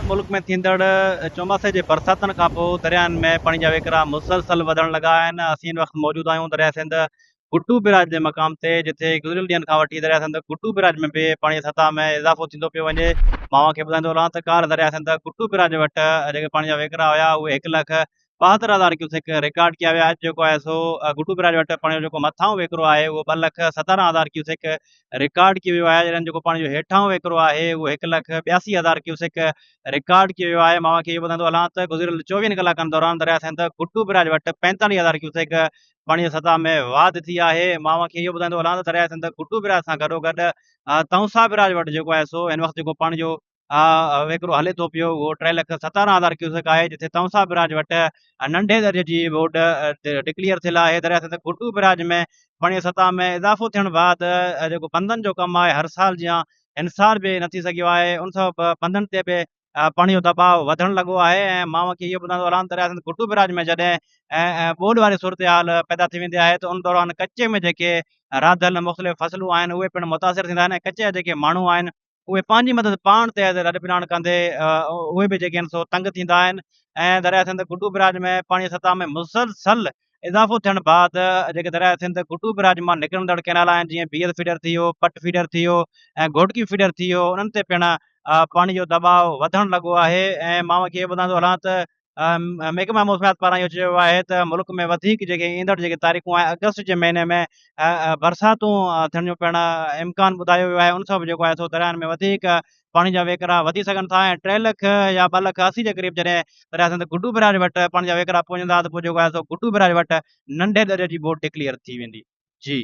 ملڪ ۾ ٿيندڙ چوماسي جي برساتن کانپوء درياهن ۾ پاڻي جا وهڪرا مسلسل وڌڻ لڳا آهن اسين هن وقت موجود آهيون درياء سنڌ گڊو بئراج جي مقام تي جتي گذريل ڏينهن کان وٺي درياء سنڌ گڊو بئراج ۾ به پاڻي جي سطح ۾ اضافو ٿيندو پيو وڃي مان اوهان کي ٻڌائيندو رهان ته ڪالهه درياء سنڌ گڊو بئراج وٽ جيڪي پاڻي جا وهڪرا هيا اهي هڪ لک ٻاهتر هزار ڪيوسڪ رڪارڊ ڪيا ويا اڄ جيڪو آهي سو گڊو بئراج وٽ پاڻي جو جيڪو مٿاهون وهڪرو آهي اهو ٻه لک ستارهن هزار ڪيوسڪ رڪارڊ ڪيو ويو آهي جڏهن جيڪو پاڻي جو هيٺاهون وهڪرو آهي اهو هڪ لک ٻياسي هزار ڪيوسڪ رڪارڊ ڪيو ويو آهي مان اوهان کي اهو ٻڌائيندو هلان ته گذريل چوويهن ڪلاڪن دوران درياء سنڌ گڊو بئراج وٽ پنجتاليهه هزار ڪيوسڪ پاڻي جي سطح ۾ واڌ ٿي آهي مان اوهان کي اهو ٻڌائيندو هلان ته درياء سنڌ گڊو بئراج سان گڏوگڏ تونسا بئراج وٽ جيڪو آهي سو هن وقت جيڪو پاڻي جو آء وهڪرو هلي ٿو پيو اهو ٽي لک ستارهن هزار ڪيوسڪ آهي جتي تونسا براج وٽ ننڍي درجي جي ووٽ ڊڪليئر ٿيل آهي دريا سنڌ گهٽو براج ۾ پاڻي سطح ۾ اضافو ٿيڻ بعد جيڪو بندن جو ڪم آهي هر سال جيان انصار به نه ٿي سگهيو آهي ان سبب بندن تي به پاڻي جو دباء وڌڻ لڳو آهي ۽ مان کي اهو ٻڌائڻ دوران دريا سنڌ گهٽو براج ۾ جڏهن ٻوڏ واري صورتحال پيدا ٿي ويندي آهي ته ان دوران ڪچي ۾ جيڪي راڌل مختلف فصلون آهن اهي پڻ متاثر ٿيندا آهن ۽ ڪچي جا جيڪي ماڻهو آهن اهي پنهنجي مدد پاڻ تي آهي لڏ پلاڻ ڪندي اهي به جيڪي آهن سو تنگ ٿيندا آهن ۽ درياء سنڌ گڊو براج ۾ پاڻي سطح ۾ مسلسل اضافو ٿيڻ بعد جيڪي درياء سنڌ گڊو براج مان نڪرندڙ ڪينال آهن جيئن بي ايل فيڊر ٿي ويو پٽ فيڊر ٿي ويو ۽ گهوٽڪي فيڊر ٿي ويو انهن تي پڻ پاڻي جو دٻاء وڌڻ لڳو آهي ۽ مان کي ٻڌان ٿو هلان ته محڪمه موسميات پاران اهو چيو ويو آهي ته ملڪ ۾ وڌيڪ جيڪي ايندڙ جيڪي تاريخون آهن اگست جي مهيني ۾ برساتون ٿيڻ جو پڻ امڪان ٻڌايو ويو آهي ان سبب جيڪو آهي سو درياهن ۾ وڌيڪ پاڻي جا ويڪرا وڌي سگهن ٿا ۽ ٽي لک يا ٻه لک اسي جي قريب جڏهن درياء سنڌ گڊو برياج وٽ پاڻي جا ويڪرا پهچندا ته پوء جيڪو آهي سو گڊو برياج وٽ ننڍي درياء جي ٻوڏ ڊڪليئر ٿي ويندي جي